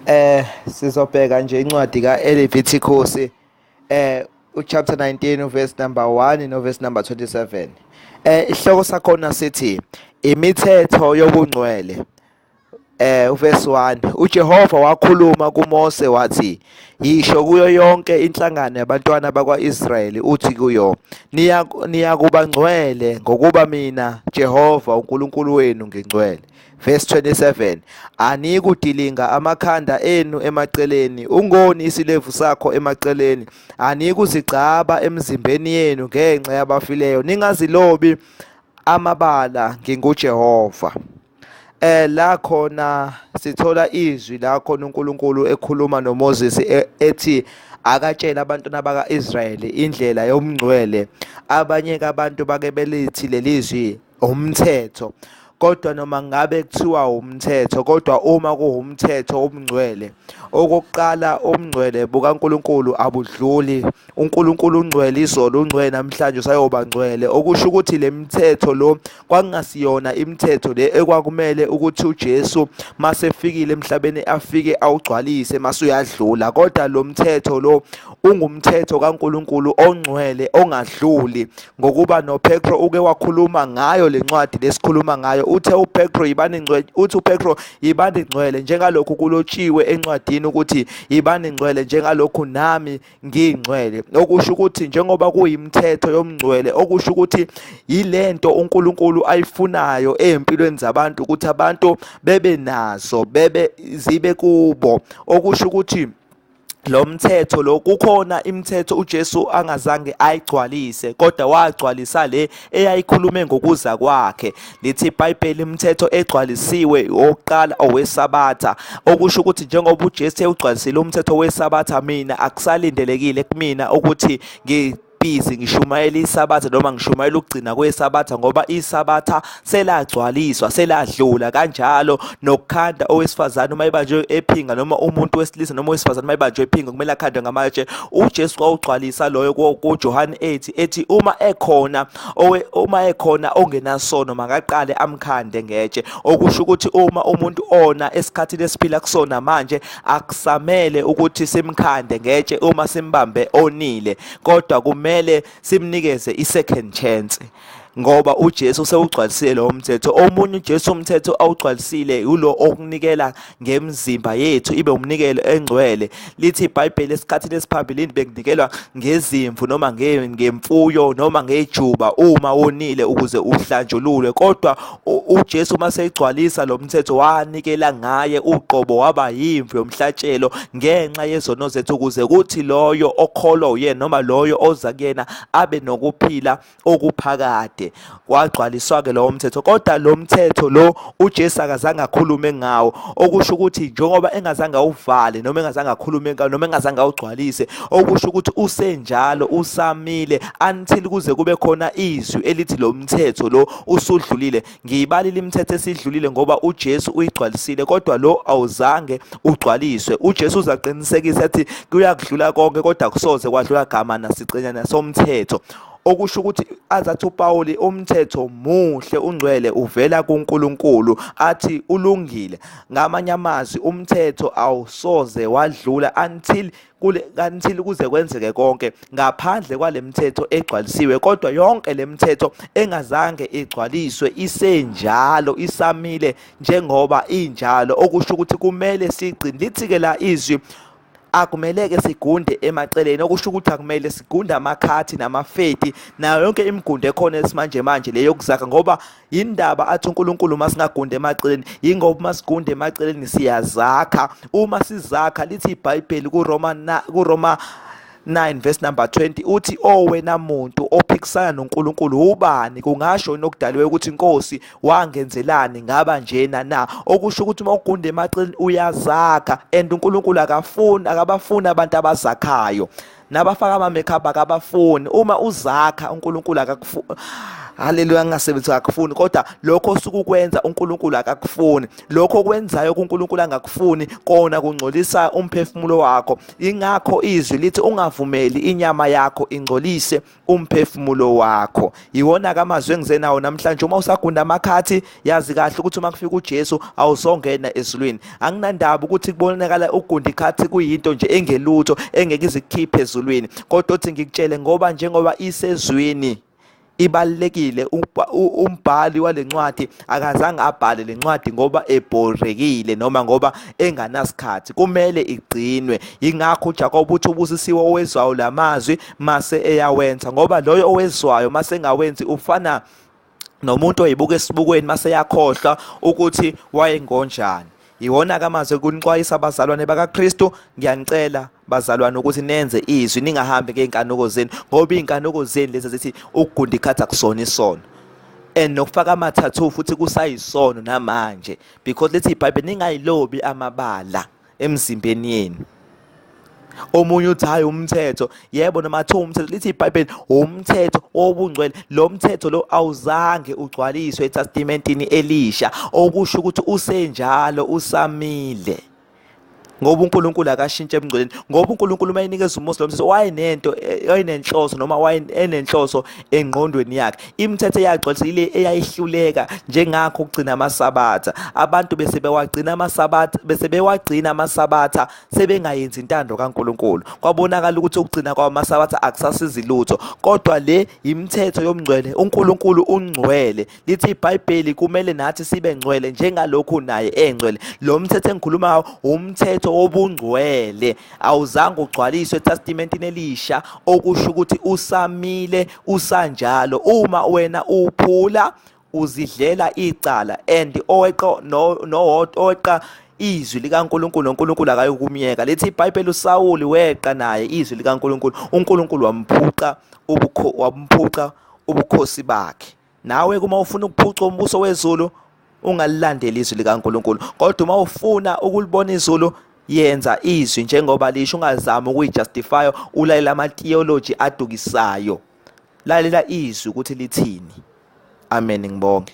Eh sizobheka nje incwadi kaLevitikusi eh uchapter 19 uverse number 1 noverse number 27. Eh isihloko sakhona sithi imithetho yobungcwele. Eh uverse 1 uJehova wakhuluma kuMose wathi yisho kuyo yonke inhlangano yabantwana bakwaIsrayeli uthi kuyo niya niyakubangcwele ngokuba mina Jehova uNkulunkulu wenu ngingcwele. Verse 27 Aniyikudilinga amakhanda enu emaceleni ungoni isilevu sakho emaceleni aniyikuzigcaba emzimbeni yenu ngenxa yabafileyo ningazilobi amabala nginguJehova eh la khona sithola izwi la khona uNkulunkulu ekhuluma noMoses e, ethi akatshela abantwana baka-Israyeli indlela yomngcwele abanye kabantu bake belithi leli zwi umthetho kodwa noma ngabe kuthiwa umthetho kodwa uma kuwumthetho omngcwele okokuqala omngcwele bukaNkuluNkulu abudluli uNkuluNkulu ungcwele izolo ungcwele namhlanje usayoba ngcwele okusho ukuthi lemithetho lo kwakungasiyona imithetho le ekwakumele ukuthi uJesu masefikile emhlabeni afike awugcwalise masuyadlula kodwa lo mthetho lo ungumthetho kaNkulunkulu ongcwele ongadluli ngokuba noPetro uke wakhuluma ngayo lencwadi lesikhuluma ngayo uthe uPetro yibani ngcwele uthi uPetro yibani ngcwele njengalokhu kulotshiwe encwadini ukuthi yibani ngcwele njengalokhu nami ngingcwele okusho ukuthi njengoba kuyimthetho yomngcwele okusho ukuthi yilento uNkulunkulu ayifunayo ezimpilweni zabantu ukuthi abantu bebe nazo bebe zibe kubo okusho ukuthi lo mthetho lo kukhona imithetho uJesu angazange ayigcwalise kodwa wagcwalisa le eyayikhulume ngokuza kwakhe lithi iBhayibheli imithetho egcwalisiwe oqala owesabatha okusho ukuthi njengoba uJesu ewugcwalisile umthetho wesabatha mina akusalindelekile kumina ukuthi ngi busy ngishumayela isabatha noma ngishumayela ukugcina kwesabatha ngoba isabatha selagcwaliswa seladlula kanjalo nokukhanda owesifazane uma ebanjwe ephinga noma umuntu wesilisa noma owesifazane uma ebanjwe ephinga kumele akhandwe ngamatshe uJesu kwawugcwalisa loyo kuJohane 8 ethi uma ekhona owe uma ekhona ongenasono makaqale amkhande ngetshe okusho ukuthi uma umuntu ona esikhathini esiphila kusona manje akusamele ukuthi simkhande ngetshe uma simbambe onile kodwa kumele simnikeze i-second chance ngoba uJesu sewugcwalisile lo mthetho omunye uJesu umthetho awugcwalisile ulo okunikela ngemzimba yethu ibe umnikelo engcwele lithi iBhayibheli esikhathini esiphambilini bekunikelwa ngezimvu noma ngemfuyo noma ngejuba uma wonile ukuze uhlanjululwe kodwa uJesu uma seyigcwalisa lo mthetho wanikela ngaye uqobo waba yimvu yomhlatshelo ngenxa yezono zethu ukuze kuthi loyo okholwa uyena noma loyo oza kuyena abe nokuphila okuphakade wagcwaliswa-ke lowo mthetho kodwa lo mthetho lo ujesu akazange akhulume ngawo okusho ukuthi njengoba engazange awuvale noma engazange akhulume ngawo noma engazange awugcwalise okusho ukuthi usenjalo usamile until kuze kube khona izwi elithi lo mthetho lo usudlulile ngiyibalile imithetho esidlulile ngoba uJesu uyigcwalisile kodwa lo awuzange ugcwaliswe uJesu uzaqinisekisa ethi kuyakudlula konke kodwa kusoze kwadlula gama nasicenyana somthetho okusho ukuthi azathi uPawuli umthetho muhle ungcwele uvela kuNkulunkulu athi ulungile ngamanye amazwi umthetho awusoze wadlula until kule kanti kuze kwenzeke konke ngaphandle kwalemithetho egcwalisiwe kodwa yonke lemithetho engazange igcwaliswe isenjalo isamile njengoba injalo okusho ukuthi kumele sigcine lithi ke la izwi akumeleke sigunde emaceleni okusho ukuthi akumele sigunde amakhathi namafeti nayo yonke imigundo ekhona esimanje manje leyokuzaka ngoba yindaba athi uNkulunkulu uma singagundi emaceleni yingoba uma sigunda emaceleni siyazakha uma sizakha lithi ibhayibheli kuroma kuroma 9 verse number 20 uthi owena oh, muntu ophikisana noNkulunkulu ubani kungasho nokudaliwe ukuthi inkosi wangenzelani ngaba njena na okusho ukuthi uma ugunde emacini uyazakha and uNkulunkulu akafuni akabafuni abantu abazakhayo nabafaka ama makeup akabafuni uma uzakha uNkulunkulu akakufuni haleluya ngingasebenzisi akakufuni kodwa lokho osuke ukwenza uNkulunkulu akakufuni lokho okwenzayo kuNkulunkulu angakufuni kona kungcolisa umphefumulo wakho ingakho izwi lithi ungavumeli inyama yakho ingcolise umphefumulo wakho yiwona ke amazwi engizenawo namhlanje uma usagunda amakhathi yazi kahle ukuthi uma kufika uJesu awuzongena ezulwini anginandaba ukuthi kubonakala ugunda ikhathi kuyinto nje engelutho engeke izikhiphe ezulwini kodwa uthi ngikutshele ngoba njengoba isezwini ibalekile umbhali walencwadi akazange abhale lencwadi ngoba ebhorekile noma ngoba enganasikhathi kumele igcinwe ingakho uJakobe uthi ubusisiwe owezwayo lamazwi mase eyawenza ngoba loyo owezwayo mase engawenzi ufana nomuntu oyibuka esibukweni mase yakhohlwa ukuthi wayengonjani yiwona ke amazwi kunixwayisa abazalwane bakaKristu ngiyanicela bazalwane ukuthi nenze izwi ningahambi ngeenkanuko zenu ngoba iinkanuko zenu lezi zithi ukugunda ikhathi akusona isono and nokufaka amathathu futhi kusayisono namanje because lithi ibhayibheli ningayilobi amabala emzimbeni yenu omunye uthi hayi umthetho yebo noma athiwa umthetho lithi ibhayibheli umthetho wobungcwele lo mthetho lo awuzange ugcwaliswe etestamentini elisha okusho ukuthi usenjalo usamile ngoba uNkulunkulu akashintshe ebungcweleni ngoba uNkulunkulu uma enikeza uMose lo mthetho wayenento wayenenhloso noma wayenenhloso engqondweni yakhe Imithetho eyaxotsha ile eyayihluleka njengakho ukugcina amasabatha. Abantu bese bewagcina amasabatha bese bewagcina amasabatha sebengayenzi intando kaNkuluNkulu. Kwabonakala ukuthi ukugcina kwawo amasabatha akusasizi lutho. Kodwa le yimithetho yomngcwele. UNkuluNkulu ungcwele. Lithi iBhayibheli kumele nathi sibe ngcwele njengalokhu naye engcwele. Lo mthetho engikhuluma ngawo umthetho wobungcwele. awuzange ugcwaliswe ethestimentini elisha okusho ukuthi usamile usanjalo uma wena uphula uzidlela icala and oweqo nowodwa oweqa izwi likaNkuluNkulu noNkuluNkulu akayokumyeka lethi iBhayibheli uSawuli weqa naye izwi likaNkuluNkulu uNkuluNkulu wamphuca ubukho wamphuca ubukhosi bakhe nawe kuma ufuna ukuphuca umbuso wezulu ungalilandeli izwi likaNkuluNkulu kodwa uma ufuna ukulibona izulu yenza izwi njengoba lisho ungazami ukuyijustify ulalela ama theology adukisayo lalela izwi ukuthi lithini amen ngibonge